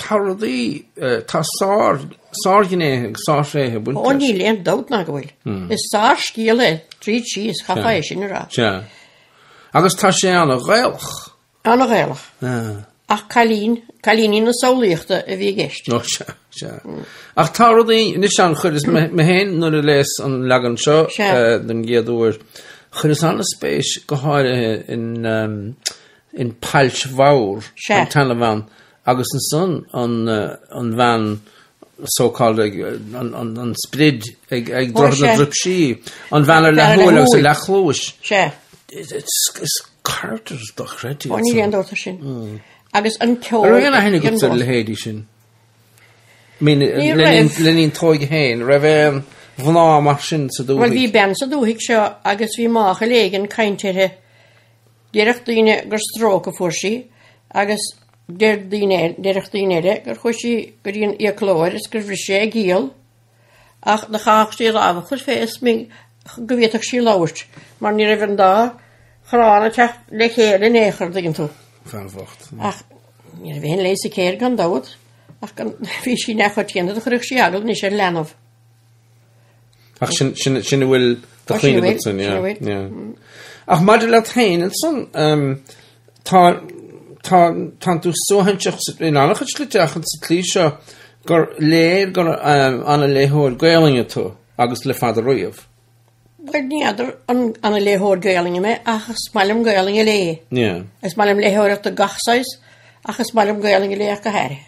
Tá rudaí, tá sár, sárghnéithe agus sárthréithe ag baint leis. Ó, níl aon dabht ná go bhfuil. Is sárscéal é tríd síos, chaithfeá é sin a rá. Sea. Agus tá sé an-Ghaelach. An-Ghaelach. Ach cailín, cailíní na samhlaíochta a bhí i gceist. Ó, sea, sea. Ach tá rudaí, anois ann chuireas mé féin, nuair a léas an leagan seo den gcéad uair, chuireas an-spéis go háirithe in in Pailt Mhór an talamh ann agus ansan an bhean so called an sprid ag droichead na Druipsí, an bhean ar leathshúil agus ar leathchluais. Is characters dochreidte iad. Ó níl aon dabht as sin. Agus an ceol. An raibh aon aithne agat ar a leithéidí sin? Ní raibh. Le linn t'óige féin, raibh aon mhná mar sin sa dúthaigh? Bhuel bhí bean sa dúthaigh seo agus bhí máchail éigin cainte uirthi Déarfadh daoine gur stróc a fuair sí agus déarfadh daoine eile gur chuaigh sí go dtí an fhiaclóir is gur bhris sé a giall, ach do chaithfeadh sí a lámh a chur féna smigín go bhféadfadh sí labhairt, mar ní raibh an dá chorrán ag teacht le chéile in aon chor, dtuigeann tú. An bhean bhocht. Ach ní raibh aon leigheas aici air gan dabht, ach bhí sí neamhchoitianta, do chuirfeadh sí eagla anois ar leanbh. Ach sin, sin, sin a bhfuil de chuimhne. Sin a bhfuil, sin a bhfuil. yeah. Ach maidir leat féin ansan, um, tá, tá, tá tú suaithinseach sa, in an-chuid slite ach ins an tslí seo gur léir gur, um, an-léitheoir Gaelainne tú agus le fada riamh. Bhuel, ní fheadar an, an-léitheoir Gaelainne mé ach is maith liom Gaelainn a léamh. Yeah. Is maith liom léitheoireacht de gach saghas ach is maith liom Gaelainn a léamh go háirithe.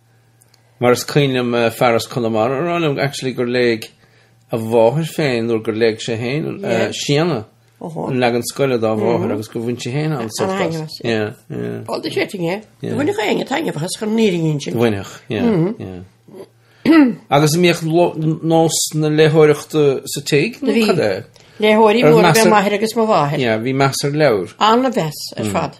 Mar is cuimhin liom Fearghas Conamara á rá liom actually gur léigh a mháthair féin, nuair gur léigh sé féin, Séadna, an leagan scoile dá mháthair agus gur bhain sí féin an-sult as. An-taitneamh as, yeah. All the setting, yeah. Bhainfeadh éinne taitneamh as chun an fhírinne a insint. Bhainfeadh, yeah, yeah. Agus an mbíodh nós na léitheoireachta sa tigh nó cad é? Bhí. Léitheoirí móra, ab ea m'athair agus mo mháthair. Yeah, bhí meas ar leabhair. An-mheas ar fad.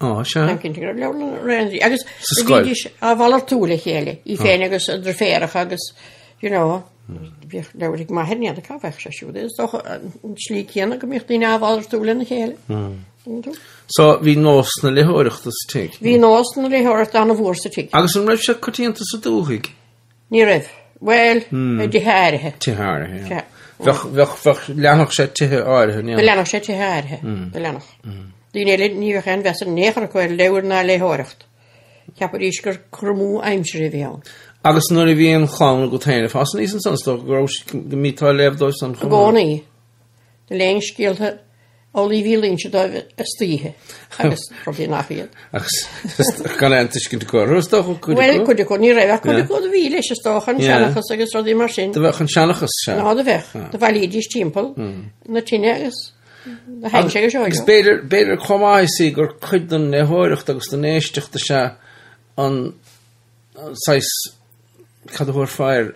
Á, sea. Táim cinnte go raibh leabhar na Réandaí agus Sa scoil. bhídís á mhalartú le chéile, í féin agus a driféaracha agus, you know, bhíodh leabhair ag m'athair, ní fheadar cá bhfaigheadh sé siúd. Is dócha an an tslí céanna go mbíodh daoine á mhalartú lena chéile. Tuigeann tú? So, bhí nós na léitheoireachta sa tigh. Bhí nós na léitheoireachta an-mhór sa tigh. Agus an raibh sé coitianta sa dúthaigh? Ní raibh. Bhuel, i dtithe áirithe. Tithe áirithe, Sea. Bheadh, bheadh, leanfadh sé tithe áirithe, yeah. Go leanfadh sé tithe áirithe, go leanfadh. Daoine eile, ní bheadh aon mheas in aon chor acu ar leabhair ná ar léitheoireacht. Cheapaidís gur cur amú aimsire a bhí ann. Agus nuair a bhí an chlann agat féin ag fás aníos ansan, is dócha go raibh, go mbíteá ag léamh dóibh san chomh maith. I gcónaí, Léinn scéalta Eolaí Mhíl Inse Dóibh istoíche agus rudaí nach iad. Ach gan é an tuiscint acu orthu, is dócha, cuid acu? Bhuel, cuid acu, ní raibh ach cuid acu a bhí leis, is dócha, an seanchas agus rudaí mar sin. Do bheadh an seanchas seo. Ó do bheadh. Do bhailídís timpeall na tine agus do tháinig sé go seoigh. Agus b'fhéidir chomh maith you see gur cuid den léitheoireacht agus den éisteacht is ea an. saghas cad a thabharfá air,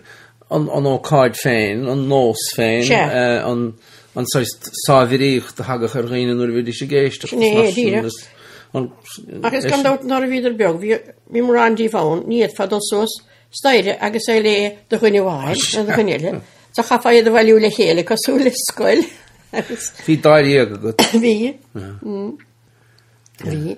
an ócáid féin, an nós féin. Sea. an saghas sáimhríocht a thagadh ar dhaoine nuair a bhídís ag éisteacht. Sin é, díreach. Agus gan dabht nuair a bhíodar beag, bhí, bhí mórán díobh ann, ní fhéadfá dul suas staighre agus é a léamh do dhuine amháin nó do dhuine eile, do chaithfeá iad a bhailiú le chéile cosúil le scoil agus. Bhí dáréag agat. Bhí. Bhí. Bhí.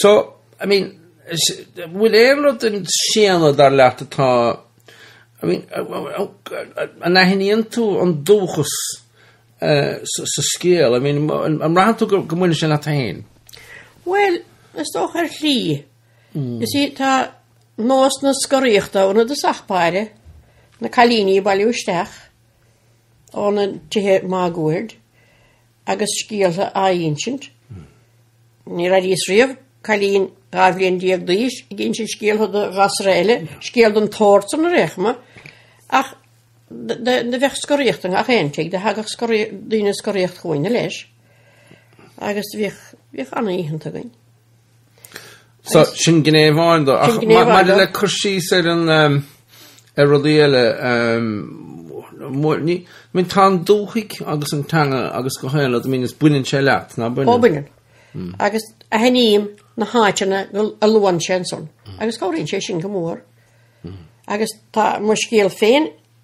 So, I mean, bhfuil aon rud in Séadna dar leat atá, I mean, an aithníonn tú an dúchas uh, sa scéal? I mean, an mbraitheann tú go mbaineann sé leat féin? Well, is dócha ar shlí. Mm. You see tá nós na scoraíochta ann i dtosach báire, na cailíní bailiú isteach, óna tithe máguaird, agus scéaltha á insint. Níor airíos riamh cailín dhá bhliain déag d'aois ag insint scéaltha do ghasra eile, scéal don tsórd san ar aon chuma, ach do bheadh scoraíocht i ngach aon tigh, do thagadh daoine scoraíocht chugainn leis agus bhíodh an-oícheanta againn. So, sin gné amháin dó. Sin gné amháin dó. Ach maidir le cur síos ar an, ehm, ar rudaí eile, ehm, mhór, ní, I mean tá an dúthaigh agus an teanga agus gach aon rud, I mean, is baineann sé leat, ná baineann? Ó, baineann. Mm. Agus aithním na háiteanna go, a luann sé ansan. Mm. Agus cabhraíonn sé sin go mór. Mm. Agus tá Mo Scéal Féin,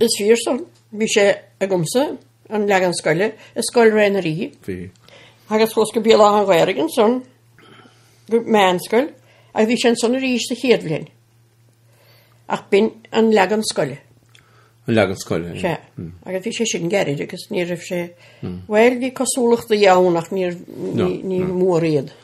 Is fíor san, bhí sé agamsa an leagan scoile i Scoil Ré na nDoirí. Bhí. Agus chuas go Béal Átha an Ghaorthaidh ansan, go meánscoil, agus bhí sé ansan arís sa chéad bhliain. Ach b'in an leagan scoile. An leagan scoile, é. Agus bhí sé sin gairid agus ní raibh sé, bhuel, bhí cosúlachtaí ann ach níor, ní, ní mór iad.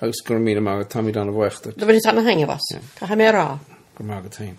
Agus go raibh míle maith agat táimid ana-bhaoch díot. Do bhaineas ana-thaitneamh as. Caithfidh mé a rá. Go raibh maith agat féin.